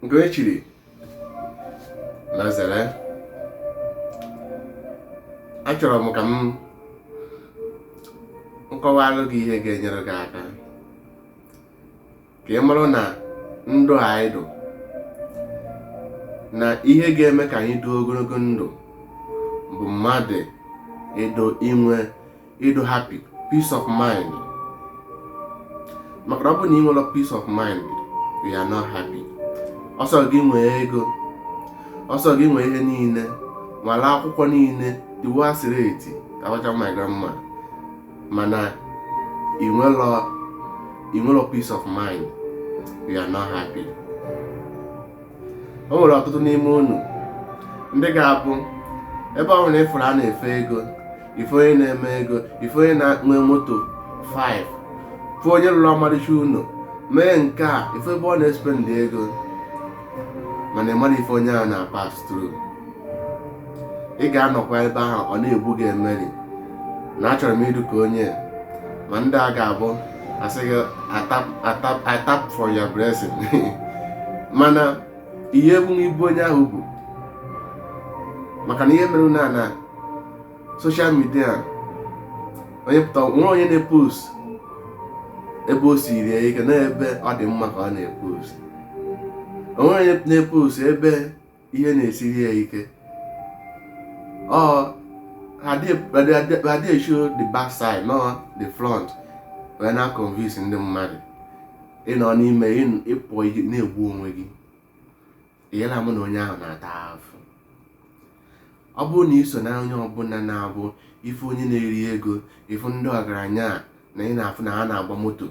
nke e chiri na zere achọrọ m ka m kọwalụ gị ihe ga-enyere gị aka ka ị marụ na ndụ anyị dụ na ihe ga-eme ka anyị dị ogologo ndụ bụ mmadụ ịdụ inwe ịdụ happy peace of mind maka na ọ bụ na ị nwerọ peace of mind you are not happy ọ sọ gị nwee ego ọ sọ gị nwee ihe niile nwale akwụkwọ niile iwu asịrị eti abacha ma grammar mana ị nwerọ peace of mind you are not happy o nwere ọtụtụ n'ime unu ndị ga-abụ ebe ọ bụla ị fụrụ a na-efe ego ị fụ onye na-eme ego ị fụ onye na-enwe moto 5 fụ onye lụrụ ọmarịcha ụlọ mee nke a ị fụ ebe ọ na-espendị ego mana ị mara ife onye a na-pass through ị ga-anọkwa ebe ahụ ọ na-egbu gị emeri na achọrọ m ịdụ ka onye ma ndị a ga-abụ a sị gị I tap for your blessing mana ị ye-ebu ibu onye ahụ bu maka na ihe mere na na social media onye pụta o nwerọ onye na-epost ebe o siri ya ike na ebe ọ dị mma ka ọ na-epost o nwerọ onye na-epost ebe ihe na-esiri ya ike ọ adị eshow the back side na ọ the front wee na-convince ndị mmadụ ị nọ n'ime ịpụ na-egbu onwe gị ị yela ama na onye ahụ na-ata afụ ọ bụrụ na i so na onye ọbụla na-abụ ị fụ onye na-eri ego ị fụ ndị ọgaranya na ị na-afụ na ha na-agba moto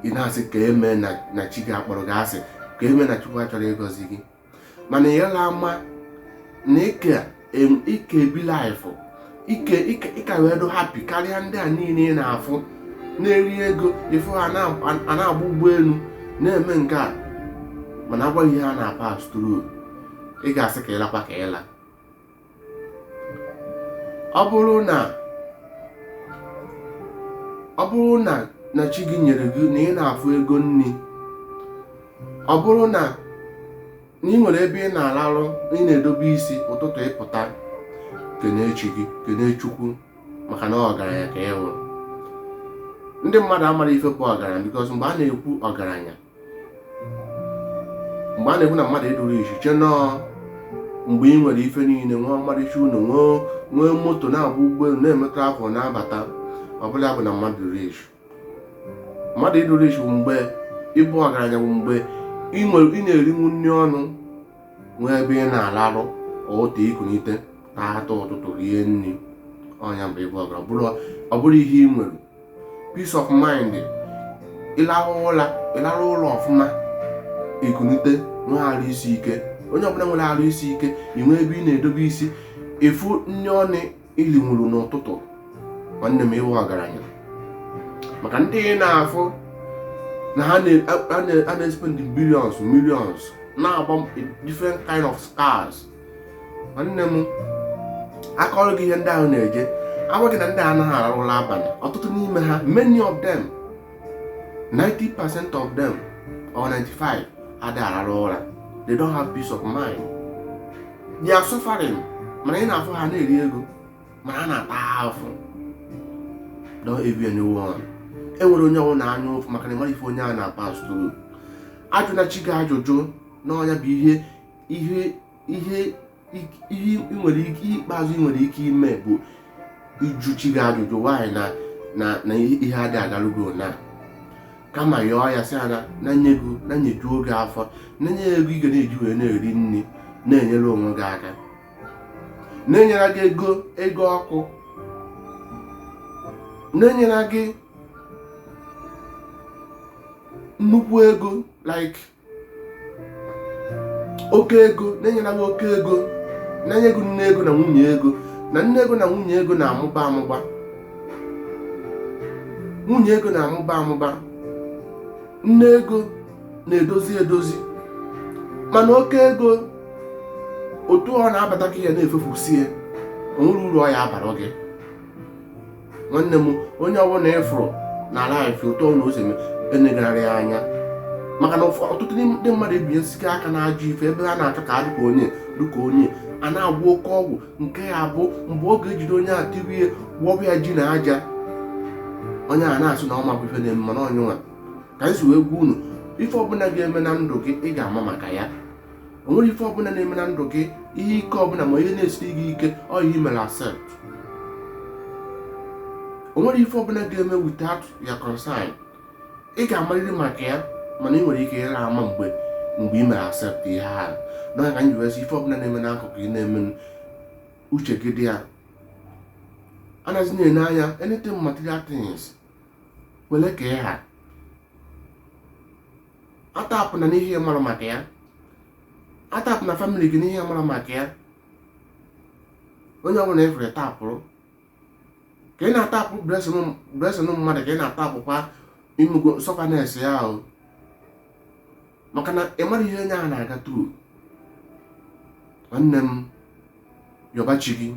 ị na-asị ka eme na chi gị akpọrọ gị asị ka eme na chukwu achọrọ ịgọzi gị mana ị yela ama na ị ka ike ebi laịfụ ike ịka wee dụ happy karịa ndị a niile ị na-afụ na-eri ego ị fụ ha na-agba ụgbọelu na-eme nke a mana a gwa gị ihe ha na-pass through ị ga-asị ka ị lakwa ka ị la ọ bụrụ na na chi gị nyere gị na ị na-afụ ego nri ọ bụrụ na na ị nwere ebe ị na-alarụ ị na-edobe isi ụtụtụ ị pụta kene chi gị kene chukwu maka na ọgaranya ka e nwere ndị mmadụ amara ife bụ ọgaranya because mgbe a na-ekwu ọgaranya mgbe a na-ekwu na mmadụ ịdụ rich e chee na ọ mgbe ị nwere ife niile nwee ọmarịcha ụlọ nwee moto na-agba ụgbọelu na-eme travel na-abata ọ bụla ya bụ na mmadụ rich mmadụ ịdị rich bụ mgbe ịbụ ọgaranya bụ mgbe ị na-erinwu nri ọnụ nwee ebe ị na-alarụ ụla ikunite na ata ụtụtụ rie nri ọ nya bụ ịbụ ọgaranya ọ bụrụ ihe ị nwere peace of mind ịlarụ ụla ịlarụ ụla ọfụma ikunite nwee arụ isi ike onye ọbụla nwere arụ isi ike ị nwee ebe ị na-edobe isi ị fụ nri ọnụ i linwuru n'ụtụtụ nwanne m ịwụ ọgaranya maka ndị ị na-afụ na ha na-espend billions millions na-agba different kind of cars nwanne m a kọọrọ gị ihe ndị ahụ na-eje a gwa gị na ndị a anaghị ararụ ụla abalị ọtụtụ n'ime ha many of them 90% of them or 95 adịghị ararụ ụra they don't have peace of mind they are suffering mana ị na-afụ ha na-eri ego mana ha na-ata afụ don't envy anyone enwere onye ọwụna anya ụfụ maka na ịmara ife onye a na-apass through ajụna chi gị ajụjụ na ọ nya bụ ihe ihe ihe ihe ị nwere ike ihe ikpeazụ ị nwere ike ime bụ ịjụ chi gị ajụjụ why na na na ihe adị agarụ gị na kama yọọ ya sị ya na na nye gị na nyejuo gị afọ na nye ego ị ga na-eji wee na-eri nri na-enyere onwe gị aka na-enyere gị ego ego ọkụ na-enyere gị nnukwu ego like oke ego na-enyela gị oke ego na-enye gị nne ego na nwunye ego na nne ego na nwunye ego na-amụba amụba nwunye ego na-amụba amụba nne ego na-edozi edozi mana oke ego otu ọ na-abata ka ya na-efefusie o nwere uru ọ ya abara gị nwanne m onye ọbụla ịfụrụ na life otu ọ na-esi eme enegharị ya anya maka na ọtụtụ ndị mmadụ ebinyesigo aka na ajọ ife ebe ha na-achọ ka ha dị ka onye dị ka onye a na-agwọ oke ọgwụ nke ya bụ mgbe ọ ga-ejide onye a tirie gwọbụ ya ji na aja onye a na-asị na ọ ma bụ ife na-eme mana ọ nya nwa ka anyị si wee gwa unu ife ọbụla ga-eme na ndụ gị ị ga-ama maka ya o nwere ife ọbụla na-eme na ndụ gị ihe ike ọbụla ma ihe na-esiri gị ike ọ ị mere accept o nwere ife ọbụla ga-eme without your consent ị ga-amarịrị maka ya mana ị nwere ike ịra ama mgbe mgbe ị mere accept ihe ahụ nya ka anyị wee sị ife ọbụla na-eme n'akụkụ ị na-eme uche gị dị ya anaghịzi na-ene anya anything material things wele ka ị ha atapụna n'ihe ị mara maka ya atapụna family gị n'ihe ị mara maka ya onye ọbụla ị fụrụ ị tapụrụ ka ị na-atapụ blessing mmadụ ka ị na-atapụkwa imego sufferness ya ahụ maka na ị mara ihe onye ahụ na-aga through nwanne m yọba chi gị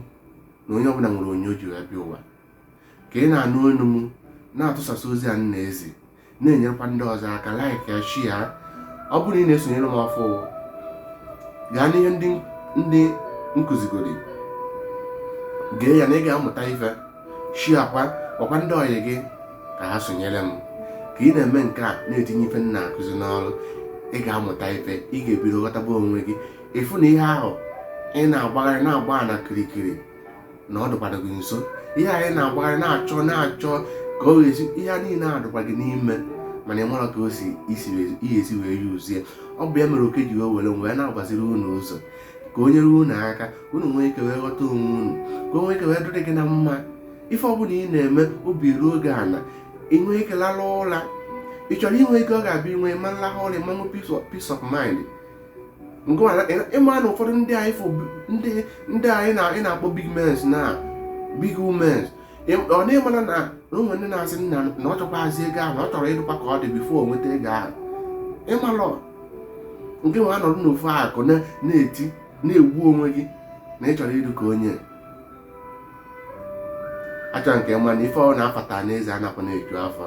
na onye ọbụla nwere onye o ji wee bịa ụwa ka ị na-anụ olu m na-atụsasị ozi a m na-ezi na-enyerekwa ndị ọzọ aka like ya share ya ọ bụrụ na ị na-esonyere m ọfụụ gaa n'ihe ndị m kụzigoro gee ya na ị ga-amụta ife sharekwa gwakwa ndị ọyị gị ka ha sonyere m ka ị na-eme nke a na-etinye ife m na-akụzi n'ọrụ ị ga-amụta ife ị ga-ebido ghọtaba onwe gị ị fụ na ihe ahụ ị na-agbagharị na-agba na kirikiri na ọ dịkwara gị nso ihe anyị na-agbagharị na-achọ na-achọ ka ọ ga-esi ihe niile adịkwa gị n'ime mana ị mara ka o si ihe esi wee yuzie ọ bụ ya mere oke ji wee were wee na-agbaziri unu ụzọ ka o nyere unu aka unu nwee ike wee ghọta onwe unu ka o nwee ike wee dịrị gị na mma ife ọbụla ị na-eme obi ruo gị ana ị nwee ike lara ụra ị chọrọ inwe ike ọ ga-abịa inwe ma nlahụ ụra ma nwee peace of mind ị ma na ụfọdụ ndị ndị anyị na-akpọ big mens na big womens ọ na ị mana na o nwe ndị na-asị m na ọ chọkwazi ego ahụ na ọ chọrọ ịdụkwa ka ọ dị before o nweta ego ahụ ị malọ nke nwa nọdụ n'ofu akụ na-eti na-egbu onwe gị na ị chọrọ ịdụ ka onye a chọrọ nke mma na ife ọ na-afata n'eze anakwana eju afọ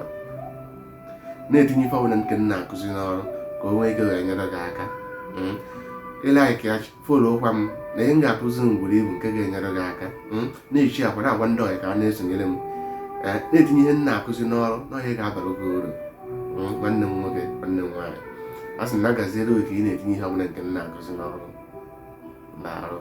na-etinye ife ọbụla nke m na-akụzi n'ọrụ ka o nwee ike wee nyere gị aka hmm? like ya followkwa m na ihe m ga-akụzi m buru ibu nke ga-enyere gị aka hmm? na-esharekwa na-agwa ndị ọyị ka ha na-esonyere m eh, na-etinye ihe m na-akụzi n'ọrụ na ihe a ga-abara gị uru hmm? nwanne m nwoke nwanne m nwaanyị a sị m ya gaziere gị ka ị na-etinye ihe ọbụla nke m na-akụzi n'ọrụ na-arụ